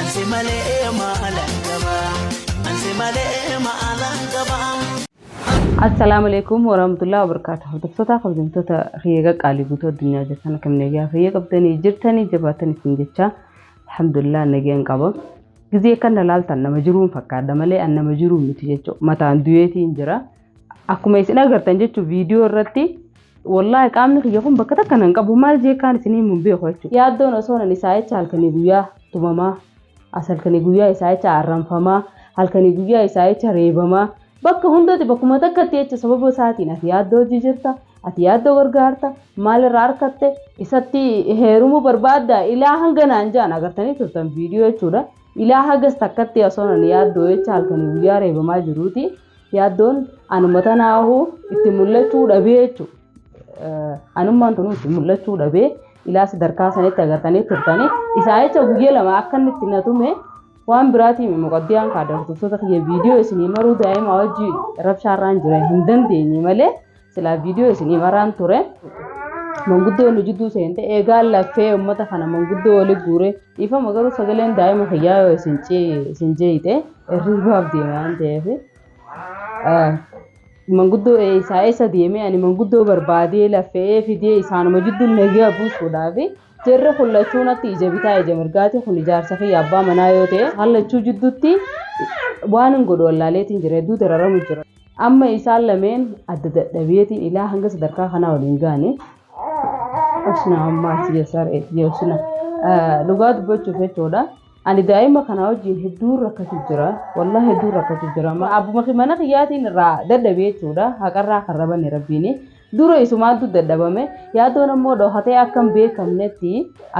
Ansi malee maalan qaba. Ansi malee maalan qaba. Assalaamu alaikum warahmatullahi wabarakatuh. Hordoftoota kabajamtoota kiyya qaqqaalii guutuu addunyaa jirtan akkam nagaa fayya qabdanii jirtanii jabaatan isin jecha alhamdulillah nagaan qaba. Gizee kan na laaltan nama jiruun fakkaadha malee an nama jiruun miti jechuudha. Mataan du'eetiin jira. Akkuma isin agartan jechuun viidiyoo irratti wallaahi qaamni kiyya kun bakka takka nan qabu maal jee kaan isin himuun beeku jechuudha. Yaaddoon osoo nan isaa jecha halkanii guyyaa tumamaa as halkanii guyyaa isaa jecha arranfamaa halkanii guyyaa isaa jecha reebamaa bakka hundatti bakkuma takkatti jecha sababa isaatiin ati yaaddoo hojii jirta ati yaaddoo gargaarta maalirraa arkatte isatti heerumuu barbaadda ilaa hanga naan jaan agartanii turtan viidiyoo jechuudha. Ilaa hagas takkatti osoo nan yaaddoo jecha halkanii guyyaa reebamaa jiruuti. Yaaddoon anuma tanaahu itti mul'achuu dhabee jechuudha. Anummaan tunu itti mul'achuu dhabee ilaa sadarkaa sanitti agartanii turtanii isaa jecha guyyaa lama akka inni itti na tume waan biraatiin muqaddiyaan kaadamtoota kiyya viidiyoo isinii maruu daa'ima wajjin rabshaarraan jira hin dandeenye malee Silaa viidiyoo isinii maraan ture. Manguddoo nu jidduu seente eegaa laffee uummata kana manguddoo oli guure dhiifama garuu sagaleen daa'ima kiyyaa yoo isin cee- isin jeeyite hirribaaf deema waan ta'eef. Ah, Manguddoo eessaa eessa deemee ani manguddoo barbaadee laffe'ee fidee isaanuma jidduu nagaa buusuudhaaf jarri kun lachuu natti ija bitaa ija mirgaati kun ijaarsa kiyya abbaa manaa yoo ta'e hallachuu jidduutti waan hin godhu wallaaleetiin jira hedduu dararamu jira. Amma isaan lameen adda dadhabeetiin ilaa hanga sadarkaa kanaa waliin gaane. Usna ammaa si yasar eetti usna. Dhugaa dubbachuuf jechuudha. Ani daa'ima kana wajjin hedduun rakkachuu jira. Wallah hedduun rakkachuu jira. Abbuma mana kiyyaatiin irraa dadhabee jechuudha. Haqarraa kan rabanne rabbiini. Dura isumaantu dadhabame yaadoon ammoo dhokatee akka hin beekamnetti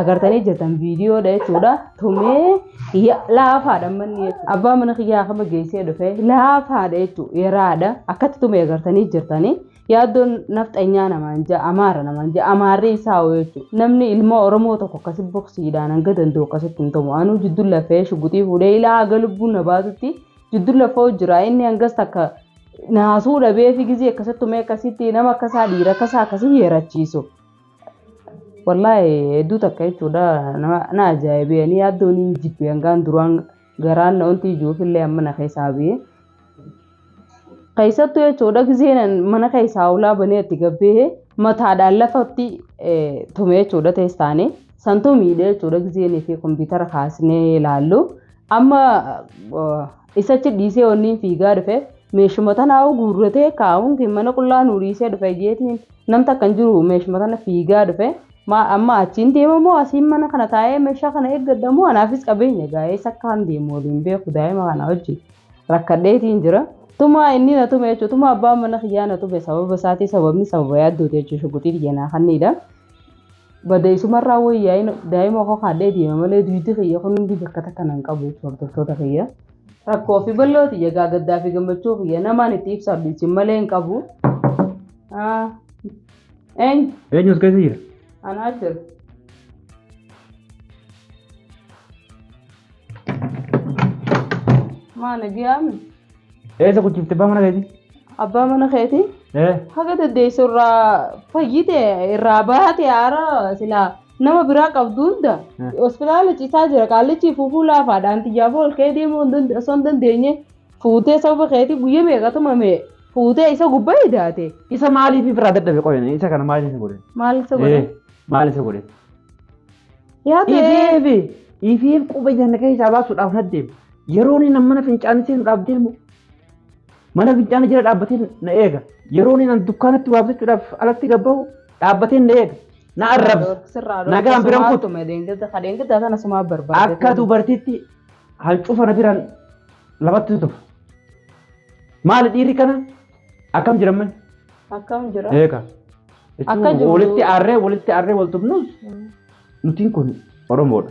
agartanii jirtan viidiyoodha jechuudha. Tumee ya- laafaadha manni jechuudha. Abbaa mana kiyyaa kama geessee dhufe laafaadha jechuudha. Yeraadha akkatti tumee agartanii jirtanii. Yaaddoon nafxanyaa namaan ja'a amaara namaan ja'a amaarri isaa hoo jechuudha. Namni ilmoo Oromoo tokko akkasi boksiidhaan hanga danda'u akkasitti hin tumu. Anuu jidduu lafee shuguxii fuudhee ilaa haga lubbuun na baatutti Jiddu lafoo jira inni hangas takka naasuu dhabee fi gizii akkasattu mee akkasitti nama akkasaa dhiira akkasaa akkasii yeerachiisu. Wallaahi hedduu takka jechuudha nama na ajaa'ibee ani yaaddoon hin jibbe hangaan duraan garaan na wanti ijuuf illee amma na keessaa bee. Keessattu jechuudha gizeen mana keessaa ulaa banee itti gabbee mataadhaan lafatti tume jechuudha teessaanii santu miidhee jechuudha gizeen fi kompiitara kaasnee ilaallu. Amma isachi dhiisee wanniin fiigaa dhufe meeshuma tanaa guurratee kaa'uun kee mana qullaa nuu dhiisee dhufe jeetiin nam takka hin jiru meeshuma tana fiigaa dhufe maa amma achiin deema moo asiin mana kana taa'ee meeshaa kana eeggadha moo anaafis qabeenya gaa'eessa akka kan deemu waliin beeku daa'ima kana wajjin rakkadheetiin jira. Tumaa inni na tume jechuudha. Tumaa abbaan mana kiyyaa na tume sababa isaatii sababni sababa yaaddooti jechuudha. Shuguxii xiyyanaa kanniidha. Bada isumarraa woyyaa'in daa'ima koo kaadhee deema malee duydi kiyya kun hundi bakka takka nan qabu jechuun hordoftoota kiyya. Rakkoo fi bal'oo tiyya gaa gaddaa fi gammachuu kiyya namaan itti ibsadhu isin malee hin qabu. Eenyu? Eenyus keessa jira? Anaa jira. Maana giyaami? Eessa kuchifte abbaa mana keetii? Abbaa mana keetii Ee. haga dandeessu irraa fayyite irraa baate haara silaa nama biraa qabdu hunda Hmm. hospitaala ciisaa jira qaallichi fuufuu laafaadhaan xiyyaaf ol kee deemuu hin dande- osoo hin dandeenye fuutee sababa keetii guyya meeqa tumame fuutee isa gubbaa hidaate Isa maaliif irraa dadhabe qoyne? Isa kana maaliif isa godhe? maal isa godhe Ee, Maal isa godhe? yaa ta'ee Ifiif ifiif quba janna keessaa baasuudhaaf naddeema. Yeroon inni mana fincaanii seenu dhaabdee immoo mana fincaanii jala dhaabbatee na eega. Yeroon inni dukkaanatti waa bitachuudhaaf alatti gabbaa'u dhaabbatee na eega. Na arrabsa. Nagaan biran kutu. Akka dubartiitti hancufa na biraan lamatti tufa. Maali dhiirri kana akkam jiran manni? Akkam jira? Eega. Akka jiru- Walitti aarree walitti aarree wal tufnus nutiin kun Oromoodha.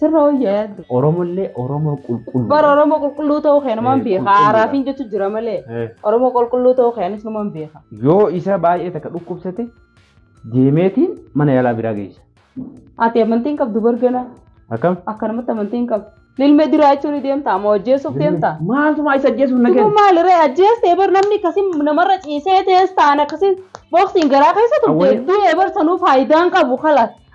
Sirra wayyaa yaaddu. Oromollee Oromoo qulqulluu. Bara Oromoo qulqulluu ta'uu kee namaan Eh, beeka. qulqulluu Haaraafiin dha. jechuun jira malee. Eh, Oromoo qulqulluu ta'uu kee anis namaan beeka. Yoo isa baay'ee takka dhukkubsate deemeetiin mana yaalaa biraa geessa. Ati amantiin qabdu bargana. Akkam? Akkanumatti amantiin qabdu. Lilmee duraa jechuun ni deemta. Amma hojjeessuuf deemta. Maaltumaa isa ajjeesuuf na Kun kenna? maalirra ajjeestee bar namni akkasii namarra ciisee tees ta'an akkasii booksiin garaa keessa turte Awwalee. du'ee bar sanuu faayidaan qabu kalas.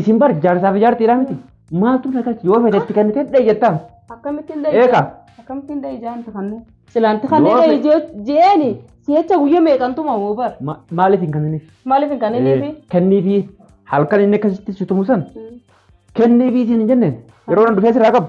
Isin bar jaarsaa fi jaartiidhaa miti. Maaltu na galchi yoo fedhe itti kennitee dha'i jettaa. Akkamittiin dha'i? Eegaa. Akkamittiin dha'i jaan takannee? Silaanti kanneen Yoo dha'i jee- jeeni si'echa guyya meeqantuma hoo bar. Ma- Maaliif hin kenniniif? Maaliif hin kanniniifi? Kenniifi halkan inni akkasitti si tumu san kenniifi siin hin jenneen yeroo nan dhufee sirraa qabu.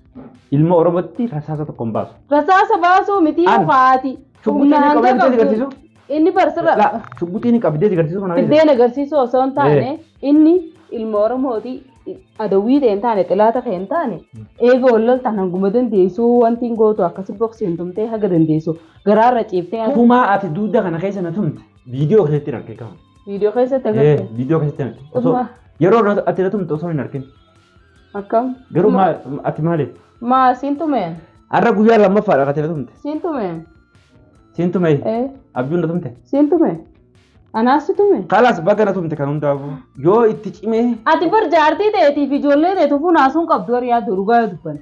Ilma Oromootti rasaasa tokko hin baasu. Rasaasa baasuu miti An- haati. Shugguxii ni qabdee si agarsiisu? Inni barsirra Laa, shugguxii ni qabdee si agarsiisu kana agarsiisu. fiddeen agarsiisuu osoo hin taane inni ilma Oromooti adawwii ta'e hin taane xilaata ta'e hin taane eega ol loltaan hanguma dandeessu wanti hin gootu akkasi boksii hin tumtee haga dandeessu garaarra ciiftee Kumaa ati duuda kana keessa na tumte viidiyoo keessatti hin argin kama. viidiyoo keessatti Eh, agarsiisu. viidiyoo keessatti hin argin. Osoo Dhuma. yeroo na- ati na tumte osoo hin argin. Akkam? Garuu Ma- maa- ati maaliif? Maa siin tumeen? Har'a guyyaa lammaffaadha kan ta'e tumte. Siin tumeen? Siin tume. Ee, Abjuun na tumte. siin tumeen? Anaas si tumeen? Kalaas baga na tumte kan hundaafuu. Yoo itti cimee Ati bar jaartii teetiif ijoollee teetu funaasuun qabdu warri yaaddu dhugaa yoo dubbanne.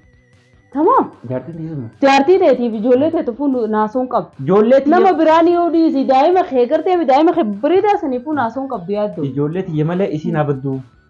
Tamaam. jaartiin dhiisuma. Jaartii teetiif ijoollee teetu funaasuun qabdu. Ijoollee tiyya- Nama biraan yoo dhiisi daa'ima kee gartee daa'ima kee biriidaa sanii funaasuun qabdu yaaddu. Ijoollee tiyya malee isiin abaddu.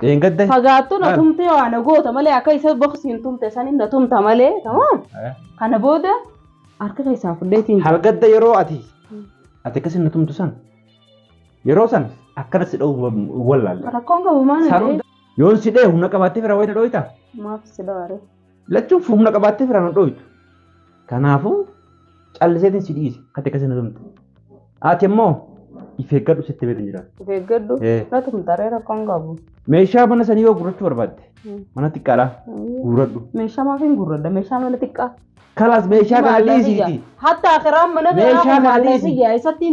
Dheengadda. Fagaattu na tumtee waa na goota malee akka isa boksiin tumte saniin na tumta malee tamaam. Kana booda harka keessaa fudheetiin jira. Halgadda yeroo ati ati akkasi na tumtu san yeroo san akkana si dha'u wallaalla. Rakkoon qabu maal Saruu yoo si dha'e humna qabaattee fira wayita dhooyta. Maaf si dhawaare. Lachuun humna qabaattee firaan hin dhooytu. Kanaafuu calliseetiin si dhiise kati akkasii na tumte. Ati immoo if eeggadhu sitti beekan jira. Of eeggadhu. Eh. Na tumtaree rakkoon qabu. Meeshaa mana sanii yoo gurrachuu barbaadde Mm. mana xiqqaadhaa guurradhu. Meeshaa maaf hin gurradda? Meeshaa mana xiqqaa. Kalaas meeshaa kana dhiisiiti. Hatta akiraan mana Meeshaa kanaa kana maallee dhiisi. siyyaa isatti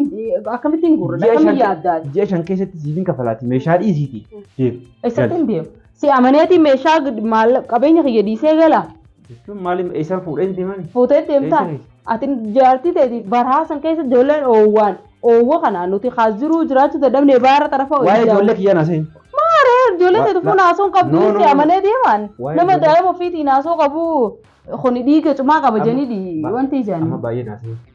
akkamittiin gurradda? Ji'a Akkamii shan- yaaddaa? Ji'a shan keessatti siif hin kafalaati meeshaa dhiisiiti. Deem. Isatti hin deemu. Si amaneeti meeshaa gad- maalla- qabeenya kiyya dhiisee gala. Jechuun maali eessaa fuudhee hin deemani? Fuutee deemtaa? Eessani? Ati jaartii teetiif baraa san keessa ijoolleen oowwaan oowwa kanaan nuti kaas jiruu jiraachuu dadhabne baara xarafa Waa'ee hojii ijoollee kiyyaa na seen. Maaree ijoollee Wa- teetiif la- kun haasoo hin qabdu No, no, si no. amanee deemaan Waa'ee nama ijoollee- daa'ima ofiitiin haasoo qabu kuni dhiiga cumaa qaba Amma- jenidhi ba- wanti Amma ijaan. baay'ee na seen.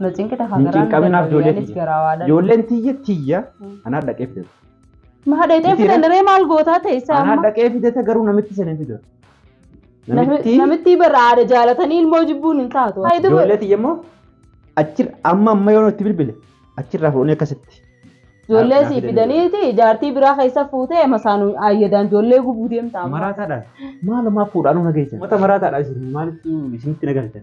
Na cinqita Hin hagaraan cinqamin haaf ijoollee anis tiyya. garaa waadha. Ijoolleen tiyya tiyya Mm. anaa dhaqee fide. Maa dheexee Miti fidan ree maal gootaa ta'e isaa Anaa amma? dhaqee fide ta garuu namitti sanii fide. Namitti Namitti bara aada jaalatanii ilmoo jibbuun hin taatu. Haa, itti ijoollee godhe. tiyya immoo achir amma amma yoo itti bilbile achirraa fuudhanii akkasitti. Ijoollee Naaf- sii naaf fidanii. fidaniiti jaartii biraa keessa fuutee masaan ayyadaan ijoollee gubuu deemtaa. Maraataadhaan maalumaa fuudhaan na geessan. Mata maraataadhaan isin maalitti isinitti na galchan.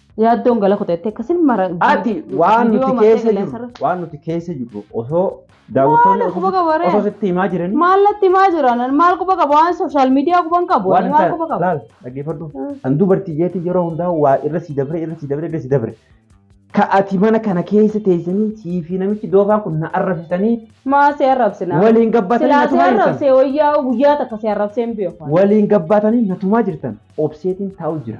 Yaaddoon gala kota jettee akkasin mara. Ati waan nuti Viidiyoo keessa mataa jirru galaasarra- waan nuti keessa jirru osoo daawwattoonni Maali quba qaba ree? osoo sitti himaa jiranii Maal natti himaa jiran? Maal quba qaba? Waan sooshaal miidiyaa quban qabu. waan Ani maal hin quba taane qaba? laal dhaggeeffadhu Mm. kan dubartii jeetii yeroo hundaa waa irra si dabre irra si dabre irra si dabre ka ati mana kana keessa teessanii sii fi namichi doofaan kun na arrabsitanii Maa si arrabsina? waliin gabbaatanii Silaa si natumaa jirtan arrabsee wayyaa guyyaa takka si arrabsee hin beeku. waliin gabbaatanii natumaa jirtan obseetiin taa'u jira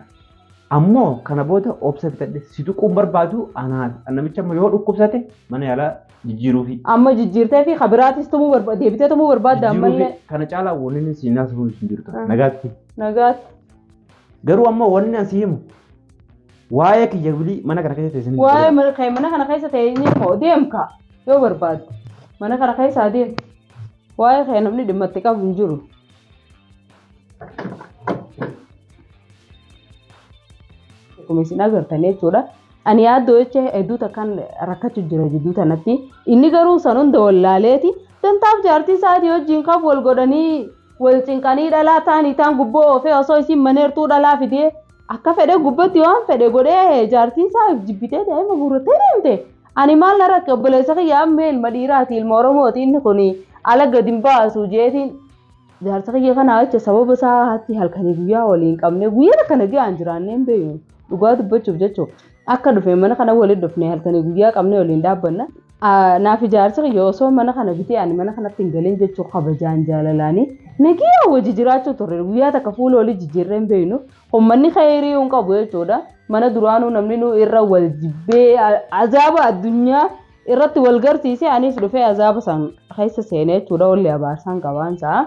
Ammoo kana booda obsa fixadhe si tuquun barbaadu anaan namicha amma yoo dhukkubsate mana yaalaa jijjiiruufi. Amma jijjiirtee fi kabiraatis tumuu barbaadda deebitee tumuu barbaadda ammallee. Jijjiiruufi kana caalaa wanni inni siin naasuun hin jirtu. Ah. Nagaatti. Nagaatti. Garuu amma wanni asi himu waa'ee kiyya bilii mana kana keessatti isin Waa'ee mana kee mana kana keessa teenyee moo deemka yoo barbaadde mana kana keessa adeem. Waa'ee kee namni dhimma itti qabu hin jiru. Akkuma isin agartan jechuudha. Ani yaaddoo jecha hedduu takkaan rakkachuu jira jidduu tanatti. Inni garuu san hunda wallaaleeti. Dantaaf jaartii isaatii wajjin kan wal godhanii wal cinqanii dhalaa taanii taan gubboo oofee osoo isin maneertuu dhalaa fidee akka fedhe gubbatti waan fedhe godhee jaartii isaa jibbitee daa'ima guurrattee deemte. Ani maal na rakke obboleessa kiyya ammee ilma dhiiraati ilma Oromooti inni kun ala gadi hin baasu jeetiin jaarsa kiyya kanaa jecha sababa isaa hatti halkanii guyyaa waliin qabne guyyaa kana ji'aan jiraannee hin beeknu dhugaa dubbachuuf jechuun akka dhufe mana kana waliin dhufne halkanii guyyaa qabne waliin dhaabbanna. Naaf ijaarsa kiyya osoo mana kana bitee ani mana kanatti hin galin jechuu kabajaan jaalalaanii nagiyaa wajji jiraachuu turre guyyaa takka fuula olii jijjiirree hin beeknu Ummanni khayrii hin qabu jechuudha. Mana duraanuu namni nu irra wal jibbee a- azaaba addunyaa irratti wal garsiise anis dhufee azaaba san keessa seenee jechuudha. Olli abaarsaan qabaan isaa.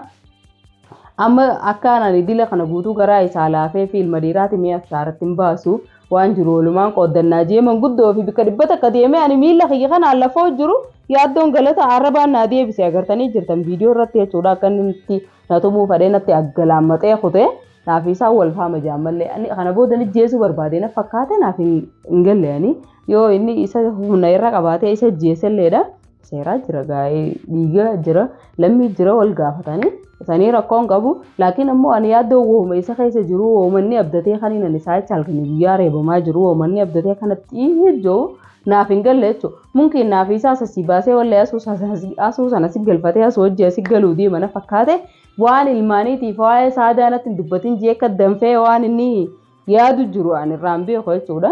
Amma akkaan ani dila kana guutuu garaa isaa laafee fi ilma dhiiraati mi'a saaratti hin baasu. Waan jiru walumaan qooddannaa jee manguddoo fi bikka dhibba takka deemee ani miila kiyya kana lafoo jiru yaaddoon galata arrabaan naa deebise agartanii jirtan viidiyoo irratti jechuudha akka inni nutti na tumuu fadhee natti aggalaammaqee kutee. Naaf isaan wal faama jaan mallee ani kana booda ni jeesuu barbaade na fakkaate naaf hin hin galle ani yoo inni isa humna irra qabaatee isa jeeselleedha seeraa jira gaa'ee dhiiga jira lammii jira wal gaafatanii isanii rakkoon qabu laakiin ammoo ani yaaddoo wooma isa keessa jiru woomanni abdatee kaniin ani isaa jecha halkanii guyyaa reebamaa jiru woomanni abdatee kanatti jiru naaf hin galle jechuun mumkiin naaf isaa sassi baasee wallee asuu sana si galfatee asuu hojii asi galuu deema na fakkaate Waan ilmaaniitiif waa'ee saadaa natti hin dubbatin jeekka danfee waan inni yaadu jiru an irraan beeku jechuudha.